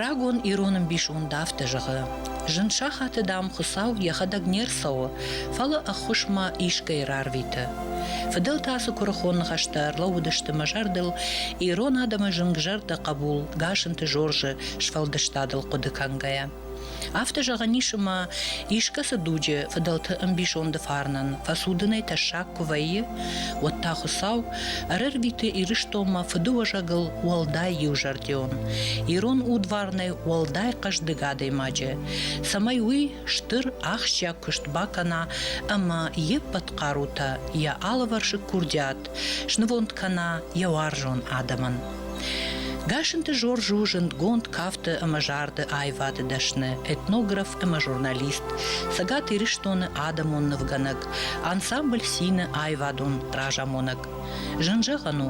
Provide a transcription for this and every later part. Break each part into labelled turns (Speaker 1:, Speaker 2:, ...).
Speaker 1: Рагон ирон ӕмбисонд афтӕ зӕгъы. Зын сахаты, дам, Хуыцау йӕхӕдӕг не рцӕуы, фӕлӕ ӕххуысмӕ искӕй рарвиты. Фыдӕлтӕ цы куырыхон ныхӕстӕ ӕрлӕууыдысты мӕ зӕрдыл, ирон адӕмы зынгзӕрдӕ хъӕбул Гасынты Жоржы сфӕлдыстадыл хъуыды кӕнгӕйӕ. Афтӕ зӕгъӕн ис ӕмӕ искӕцы дуджы фыдӕлты ӕмбисонды фарнӕн фӕцудынӕй тӕссаг куы вӕййы, уӕд та Хуыцау ӕрӕрвиты Ирыстонмӕ фыдыуӕзӕгыл уӕлдай иузӕрдион, ирон удварнӕй уӕлдай хъӕздыг адӕймаджы, цӕмӕй уый стыр ахсджиаг куыст бакӕна ӕмӕ йе ппӕт хъарутӕ йӕ алывӕрсыг курдиат Снывонд кӕна йӕ уарзон адӕмӕн. Гасынты Жорж у зындгонд кафты ӕмӕ зарды аивады дӕсны, этнограф ӕмӕ журналист, Цӕгат Ирыстоны адӕмон нывгӕнӕг, ансамбль Сины аивадон разамонӕг. Зын зӕгъӕн у,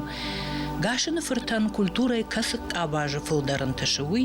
Speaker 1: Гасыны фыртӕн культурӕйы кӕцы къабазы фылдӕр ӕнтысы, уый,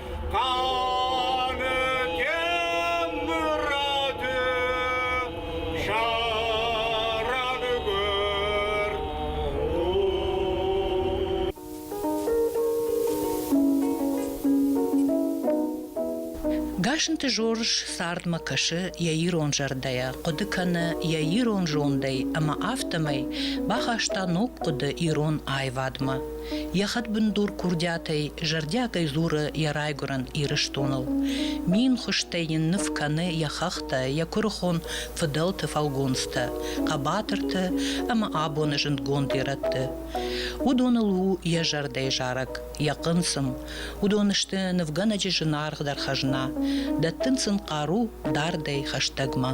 Speaker 1: Гасынты Жорж цардмӕ кӕсы йӕ ирон зӕрдӕйӕ, хъуыды кӕны йӕ ирон зондӕй ӕмӕ афтӕмӕй бахаста ног хъуыды ирон аивадмӕ. Йӕ хӕдбындур курдиатӕй зӕрдиагӕй дзуры йӕ райгуырӕн Ирыстоныл. Мин хуызтӕй йын ныв кӕны йӕ хӕхтӕ, йӕ куырыхон фыдӕлты фӕлгонцтӕ, хъӕбатырты ӕмӕ абоны зындгонд ирӕтты. Уыдоныл у йӕ зӕрдӕйы зарӕг, йӕ хъынцъым. Уыдон сты нывгӕнӕджы зынаргъдӕр хӕзна, дӕттынц ын хъару дардӕй хӕстӕгмӕ.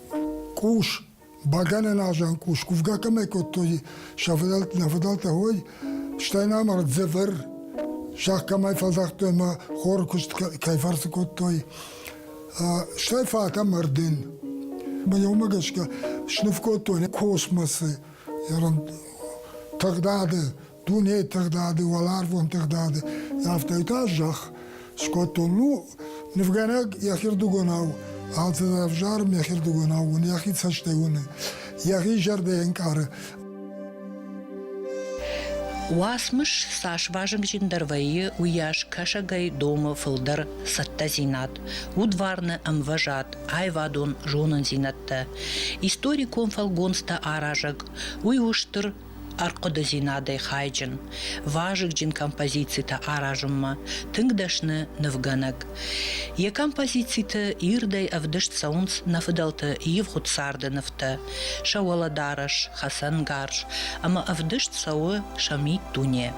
Speaker 2: Къус, бӕгӕнӕн азан къус, кувгӕ кӕмӕй кодтой сӕвдӕлтӕ ой, стӕй намар дзӕвӕр, зӕхх кӕмӕй фӕдзагътой ӕмӕ хоры куыст кӕй фӕрцы кодтой. Стӕй фатӕ мардин. Мӕ уымӕ гӕсгӕ сныв кодтой космосы, тагъдады дунейы тыгъдады, уӕларвон тыгъдады, афтӕ та зӕхх скодтон. Ну, нывгӕнӕг йӕхирдыгонау алцӕдӕр ӕвзарым йӕхирдыгонау уыны, йӕхи цӕстӕй уыны, йӕхи зӕрдӕ ӕнкъары.
Speaker 1: Уацмыс цас вазыгджындӕр вӕййы, уыйас кӕсӕгӕй домы фылдӕр цӕттӕдзинад, удварны ӕмвӕзад, аивадон зонындзинӕдтӕ. Историкон фӕлгонцтӕ аразӕг, уый у стыр ӕрхъуыдыдзинадӕй хайджын, вазыгджын композицитӕ аразынмӕ тынг дӕсны нывгӕнӕг. Йӕ композициты ирдӕй ӕвдыст цӕуынц нӕ фыдӕлты ивгъуыд царды нывтӕ, сӕ уӕлӕдарӕс, хӕцӕнгарз, ӕмӕ ӕвдыст цӕуы сӕ миддуне.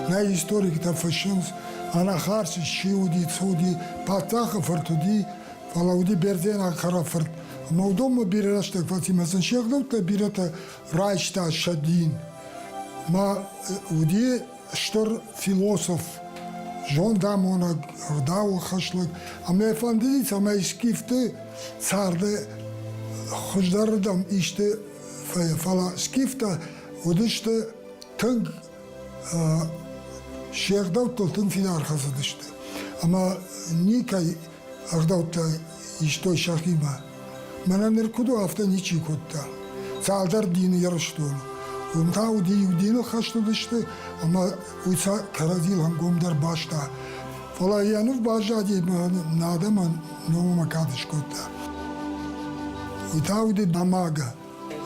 Speaker 2: Нӕ историктӕ фыссынц, ӕнӕхарз чи уыди, цы уыди, паддзахы фырт уыди, фӕлӕ уыди бердзенаг хӕрӕфырт. Мӕудонмӕ бирӕ рӕстӕг фӕцимӕ сын се гъдӕуттӕ бирӕтӕ райста сӕ дин. Мӕ уыди стыр философ, зондамонӕг, ӕгъдауы хӕслӕг, ӕмӕ йӕ фӕндыди, цӕмӕй скифты царды хуыздӕрырдӕм исты фӕйӕ. Фӕлӕ скифтӕ уыдысты тынг се ӕгъдӕуттыл тынг фидар хӕцыдысты ӕмӕ никӕй ӕгъдӕуттӕ истой сӕхимӕ. Мӕнӕ ныр куыд у, афтӕ ничи кодта. Цалдӕр дины Ирыстон. Уым та уыди иу дины хӕст уыдысты, ӕмӕ уый сӕ кӕрӕдзийыл ӕнгомдӕр баста. Фӕлӕ йӕ ныв баззади ӕмӕ нӕ адӕмӕн номӕмӕ кад скодта. Уый та уыди Дамага.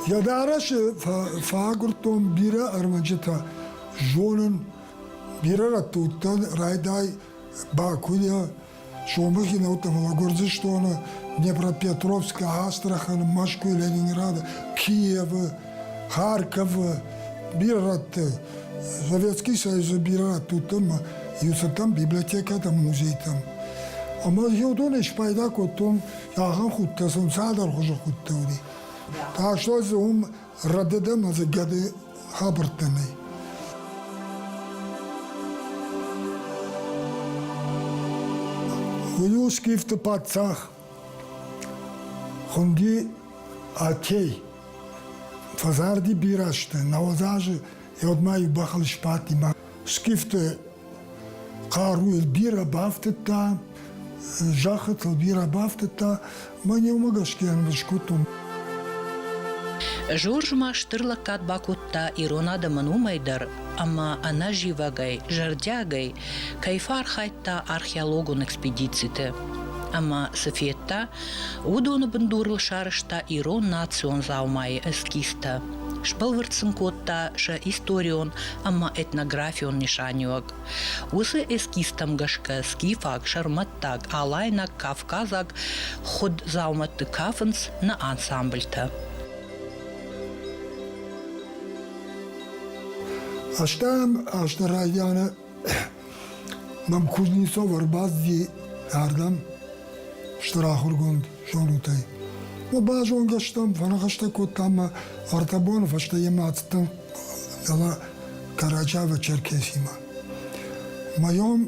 Speaker 2: Йӕ дарӕсы фӕагуырдтон бирӕ ӕрмӕджытӕ. Зонын, бирӕ рӕтты уыдтӕн райдай Бакуйӕ, сомыхи нӕуттӕ, фӕлӕ Гуырдзыстоны, Днепропетровскы, Астраханы, Мӕскуы, Ленинграды, Киевы, Харьковы, бирӕ рӕтты, Советский Союзы бирӕ рӕтты уыдтӕн иу цыдтӕн библиотекӕтӕм, музейтӕм. Ӕмӕ иу донӕй спайда кодтон ахӕм худтӕ, цӕмӕн цалдӕр хуызы худтӕ уыди. Ӕхсӕв дзы уым рӕдыдӕм ӕдзы гӕды хабӕрттӕ нӕй. Уилскифты паддзах хуынди Атей. Фӕзарди бирӕ азты, науӕд азы йӕ удмӕ иу бӕхыл сбадти. Скифты Хъару йыл бирӕ бафтыдта, зӕххытыл бирӕ бафтыдта, мӕн иумӕ гӕсгӕ скодтон.
Speaker 1: Жорж ма стыр лӕггад бакодта ирон адӕмӕн уымӕй дӕр, ӕмӕ ӕнӕзивӕгӕй, зӕрдиагӕй кӕй фӕархайдта археологон экспедициты. Ӕмӕ цы федта, уыдоны бындурыл сарӕзта ирон национ дзаумайы эскизтӕ. сбӕлвырд сын кодта сӕ историон ӕмӕ этнографион нысаниуӕг. Уыцы эскизтӕм гӕсгӕ скифаг, сӕрмӕттаг, алайнаг, кавказаг хуыд дзаумӕтты кафынц нӕ ансамбльтӕ.
Speaker 2: Астӕм азты райдианы Мӕм Кузнецов ӕрбадти ардӕм стыр ахуыргонд зонутӕй. Мӕ базонгӕ стӕм, фӕныхӕстӕ кодтам мӕ ӕртӕ боны фӕстӕ йемӕ ацыдтӕн дала Карачаево-Черкесимӕ. Моем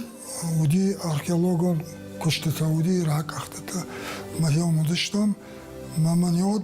Speaker 2: уыди археологон куыстытӕ, уыди ракъӕхтытӕ. Моем уыдыстӕм, мӕ мӕ не уыд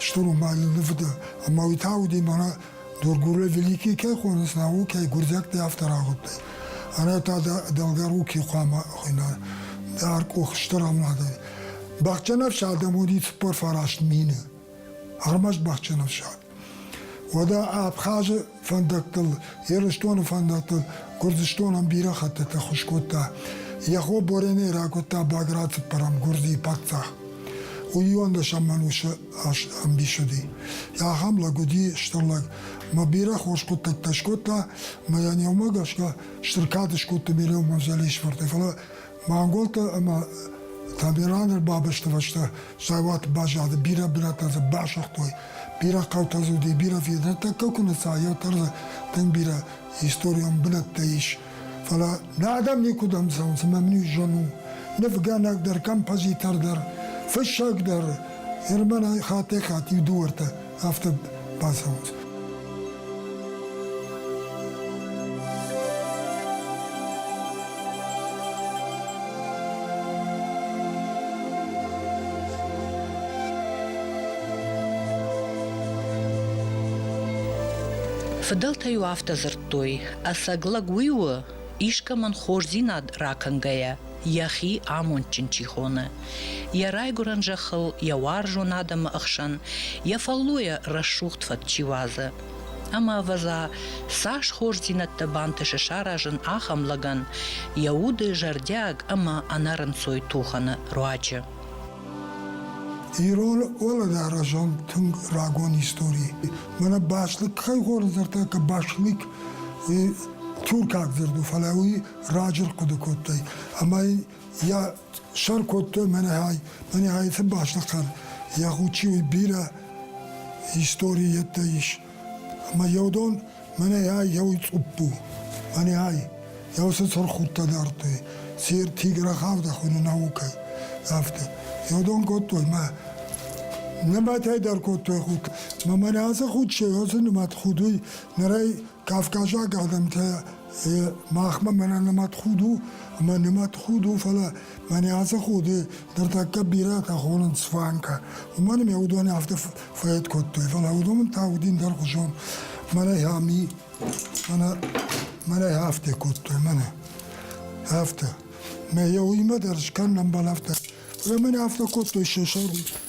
Speaker 2: стур умбали нивуда ӕма уи тауди мара дургурӕ великий кӕй хонис науки гурдиӕгтӕ афтӕ рагъудтӕй арӕта дӕлгаруки хъуама хуйна дар къохстӕр амладӕй бахджанӕфсад адӕмоди цуппор фараст мине ӕрмӕст бахджанӕфсад уӕдӕ абхазы фӕндӕттыл, Ирыстоны фӕндӕттыл Гуырдзыстонӕн бирӕ хӕттытӕ хуыз кодта. Яго Бореней ракодта Баграцыппӕрӕм Гуырдзийы паддзах. Уыйон дӕсӕмӕн усы ӕмбисыди. Ахӕм лӕг уыди стыр лӕг. Мӕ бирӕ хорз хъуыддӕгтӕ скодта, мӕ йӕ ниумӕ гӕсгӕ стыр кад скодта Мелеон Манзалишварты, фӕлӕ Манголтӕ ӕмӕ Тамерланы ӕрбабӕсты фӕстӕ зӕвӕт баззады, бирӕ бирӕтӕ дзы басыгътой, бирӕ хъӕутӕ дзы уыди, бирӕ фид. Ныртӕккӕ куы ныца, еу дӕр дзы тынг бирӕ историон бынӕттӕ ис. Фӕлӕ нӕ адӕм никуыдӕм цӕуынц, ӕмӕ мын ис зын у. Нывгӕнӕг дӕр, композитор дӕр, фыссӕг дӕр Ермӕнӕй хаттӕй-хатт иу дыууӕртӕ афтӕ бацӕуынц.
Speaker 1: Фыдӕлтӕ-иу афтӕ дзырдтой, ӕцӕг лӕг уый у, искӕмӕн хорздзинад ракӕнгӕйӕ. йӕхи амондджын чи хоны. Йӕ райгуырӕн зӕххыл, йӕ уарзон адӕмы ӕхсӕн йӕ фӕллойӕ рӕсугъд фӕд чи уадзы. Ӕмӕ ӕвӕдза, цас хорздзинӕдтӕ бантысы саразын ахӕм лӕгӕн йӕ уды зӕрдиаг ӕмӕ ӕнӕрынцой тухӕны руаджы.
Speaker 2: Ирон уӕлӕдарӕсӕн тынг рагон истори. Мӕнӕ бӕстаг кӕй хорз дзырдта, ka бӕстаг туркаг дзырду, фӕлӕ уый раджы рхъуыды кодтой ӕмӕ йӕ сӕр кодтой мӕнӕ ӕйты бӕстыхъӕд йӕ хъучи бирӕ истори йеддӕ ис ӕмӕ еу дон мӕнӕ еу цъуппу мӕнӕ еу цы цырхудтӕ дардтой сир тиграхавда хуыны наукӕ афтӕ еу дон кодтой мӕ нымӕтӕй дӕр кодтой худ ма мӕнӕ ацы худ се носы нымӕт худ уый нырӕй кавказаг адӕмтӕ махмӕ мӕнӕ нӕмӕт худ у ӕма нӕмӕт худ у фӕлӕ мӕнӕ ацы ходи дӕр тӕккӕ бирӕтӕ хонынц фанка уымӕн ме уыдоны афтӕ фӕед кодтой фӕлӕ уыдон та уыдин дӕр хуызон мӕнӕ ами мӕнӕ мӕнӕ афтӕ кодтой мӕнӕ афтӕ мӕ йӕ уыимӕ дӕр скӕнынӕн бал афтӕ мӕнӕ афтӕ кодтой се сӕр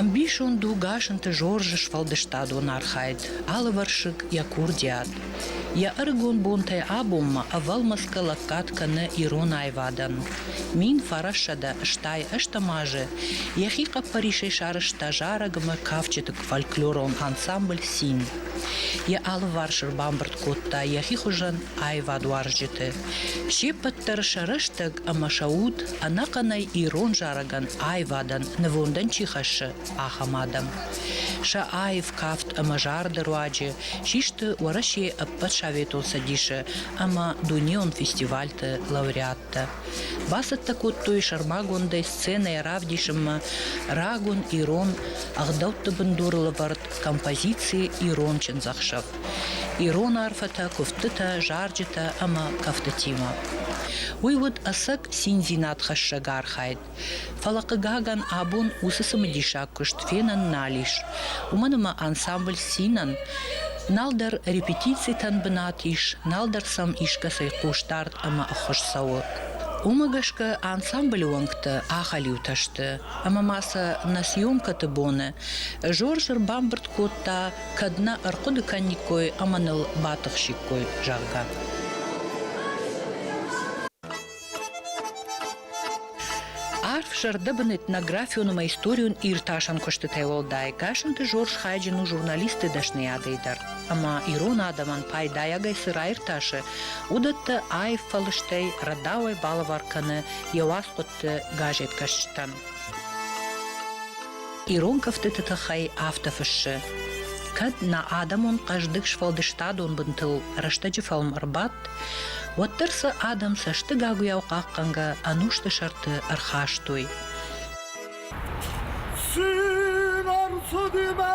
Speaker 1: Ӕмбисонд у Гасынты Жоржы сфӕлдыстадон архайд Алывӕрсыг йӕ курдиат. Йӕ ӕрыгон бонтӕй абонмӕ ӕвӕлмӕцгӕ лӕггад кӕны ирон аивадӕн. Мин фарассӕдӕ стай ӕстӕм азы йӕхи хъӕппӕрисӕй сарӕзта зарӕг ӕмӕ кафджыты фольклорон ансамбль Син. Йӕ алыварс ӕрбамбырд кодта йӕхи хуызӕн аивадуарзджыты. се ппӕт дӕр сӕ рӕстӕг ӕмӕ сӕ уд ӕнӕхъӕнӕй ирон зарӕгӕн аивадӕн нывондӕн чи хӕссы, ахӕм адӕм. Сӕ аив кафт ӕмӕ зарды руаджы систы Уӕрӕсейы ӕппӕт Советон Цӕдисы ӕмӕ дунеон фестивальты лауреаттӕ. Бацӕттӕ кодтой сӕрмагондӕй сценӕйӕ равдисынмӕ рагон ирон ӕгъдӕутты бындурылӕвӕрд композици Ирон чындзӕхсӕв. ирон арфӕтӕ, куывдтытӕ, зарджытӕ ӕмӕ кӕфтытимӕ. Уый уыд ӕцӕг циндзинадхӕссӕг архайд. Фӕлӕ, хъыгагӕн, абон уыцы цымыдисаг куыст фенӕн нал ис. Уымӕн ӕмӕ ансамбль Цинӕн нал дӕр репетицитӕн бынат ис, нал дӕр сӕм искӕцӕй хъусдард ӕмӕ ӕххуыс цӕуы. Уымӕ гӕсгӕ ансамблы уӕнгтӕ ахӕлиутӕ сты, ӕмӕ ма сӕ нӕ съемкӕты боны Жорж ӕрбамбырд кодта кӕд нӕ ӕрхъуыды кӕниккой ӕмӕ ныл батыхсиккой, зӕгъгӕ. Арф зӕрдӕбын этнографион ӕмӕ историон иртасӕн куыстытӕй уӕлдай Гасанты Жорж хайджын у журналисты дӕсныйадӕй дӕр. Ӕмӕ ирон адӕмӕн пайдайагӕй цы раиртасы, уыдӕттӕ аив фӕлыстӕй, рӕдауӕй балӕвар кӕны йӕ уацхъуыдты газеткӕсджытӕн. Ирон куывдты тыххӕй афтӕ фыссы, Кӕд нӕ адӕмон хъӕздыг сфӕлдыстадон бынтыл рӕстӕджы фӕлм ӕрбадт, уӕддӕр сӕ адӕм цӕстыгагуыйау хъахъхъӕнгӕ ӕнусты сӕрты ӕрхастой.
Speaker 2: Симон Судимӕ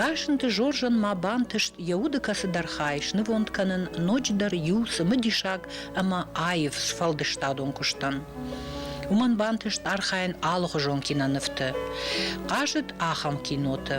Speaker 1: Гасынты Жоржан ма бантыст йӕ уды кӕцыдӕр хай снывонд кӕнын ноджыдӕр иу цымыдисаг ӕмӕ аив сфӕлдыстадон куыстӕн. Уымӕн бантыст архайын алыхуызон кинонывты. Хъазыд ахӕм киноты,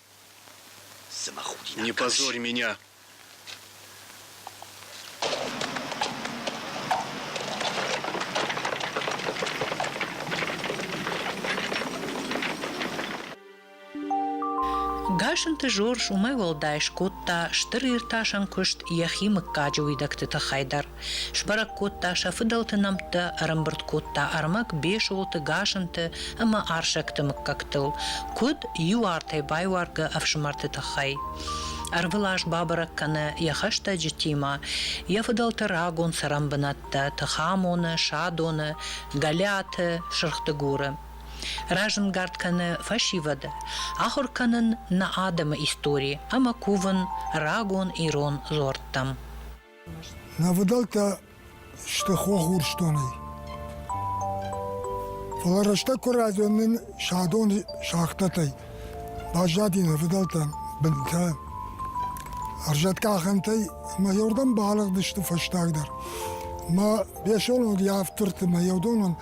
Speaker 3: Не позорь меня!
Speaker 1: Гасанты Жорж уымӕй уӕлдай скодта стыр иртасӕн куыст йӕхи мыггаджы уидӕгты тыххӕй дӕр. Сбӕрӕг кодта сӕ фыдӕлты нӕмттӕ, ӕрӕмбырд кодта ӕрмӕг Бесолты, Гасанты ӕмӕ Арсӕгты мыггӕгтыл, куыд иу артӕй байуаргӕ ӕфсымӕрты тыххӕй. Ӕрвылаз бабӕрӕг кӕны йӕ хӕстӕджытимӕ йӕ фыдӕлты рагон цӕрӕнбынӕттӕ Тыхамоны, Садоны, Гӕлиаты, Сырхдыгуры. Разӕнгард кӕны фӕсивӕды, ахуыр кӕнын нӕ адӕмы истори ӕмӕ кувын рагон ирон дзуӕрттӕм.
Speaker 2: Нӕвыдӕлтӕ сты хох Урсдонӕй. Фӕлӕ рӕстӕг куы райдзон нын садон шахтӕтӕй, баззади нӕвыдӕлтӕн бынтӕ. Ӕрзӕткъахӕнтӕй мӕ еуырдӕм балыгъдысты фӕстагдӕр. Мӕ бесонон явдтырты мӕ еудонон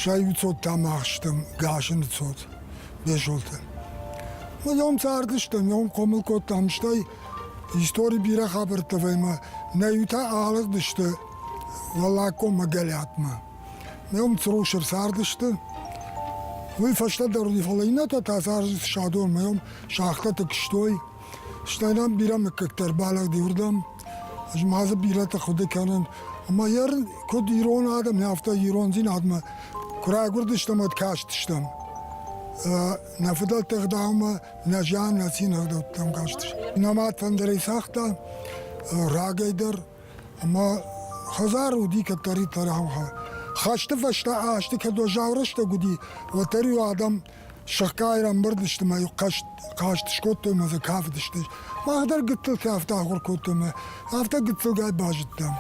Speaker 2: сӕйуцодтам ахстым гасыны цот, бесолты. Мӕ ном цардыстӕм, ном хъомыл кодтам, стӕй Истори бирӕ хабӕрттӕ ӕмӕ нӕ иутӕ алыгъдысты Уӕллагкоммӕ горӕтмӕ. Ме уым Црушер цардысты. Уый фӕстӕдӕр уыди, фӕлӕ иннӕтӕ та цардысты Садон, ме уым сӕгътӕ тыгстой. Стӕй нӕм бирӕ мыггӕгтӕ ӕрбалӕгъди уырдӕм. Ӕз ма дзы бирӕтӕ хъуыды кӕнын. Ӕмӕ йӕ куыд ирон адӕм, афтӕ ирондзинадмӕ куы райгуырдыстӕм ӕд кастыстӕм. Нӕ фыдӕлты ӕгъдаумӕ Нӕ зиан нӕ цин ӕгъдӕуттӕм кастис. Нӕма тӕндӕрӕй цагъта рагӕй дӕр, ӕма хӕдзар уди кӕддӕриддӕр гьӕуха. Хӕсты фӕстӕ азты кӕд уӕззау рӕстӕг уыди, уӕддӕр-иу адӕм сыхгай ӕмбырдысты мӕ хъаст, хъаст скодтой мӕ дзы кафыдысты. Мах дӕр гыццылтӕ афтӕ ахуыр кодтой мӕ, афтӕ гыццылгай базыдтам.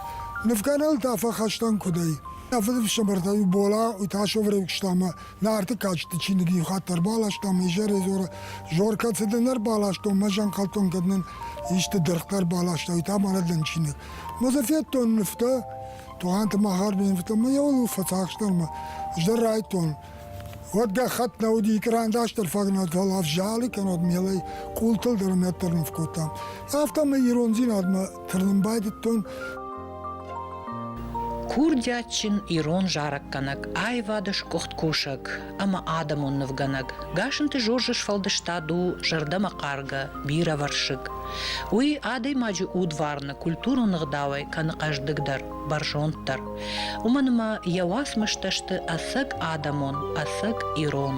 Speaker 2: Нывкӕнӕн та фӕхӕстӕн куыдӕй. Мӕ фыдыфсымӕртӕ-иу Бола, Уташов ревкуыста мӕ Нарты кадджыты чиныг иу хатт ӕрбаластам, изӕрӕй зоры, Жоркӕ цыды нӕ ӕрбаластон, мӕ зӕнхъӕлтон, кӕд нын исты дыргътӕ ӕрбаластай, та марӕддӕн чиныг. Мӕ дзы федтон нывтӕ, Тугъанты Махарбе нывтӕ, мӕ йӕ фӕцахстон мӕ, ӕз дӕр райдтон. Уӕд гӕххӕтт нӕ уыди, кърандастӕр фаг нӕ уыд, фӕлӕ ӕвзалы кӕнод мелӕй къултыл дӕр нӕддӕр ныв кодтам. Афтӕ мӕ ирондзинадмӕ Тырнын байдыдтон.
Speaker 1: Курдиатджын ирон зарӕггӕнӕг, аивады скъуыхт кусӕг ӕмӕ адӕмон нывгӕнӕг Гасынты Жоржы сфӕлдыстад у зӕрдӕмӕхъаргӕ, бирӕвӕрсыг. Уый адӕймаджы удварны культурон ӕгъдауӕй кӕны хъӕздыгдӕр, бӕрзонддӕр. Уымӕн ӕмӕ йӕ уацмыстӕ сты ӕцӕг адӕмон, ӕцӕг ирон.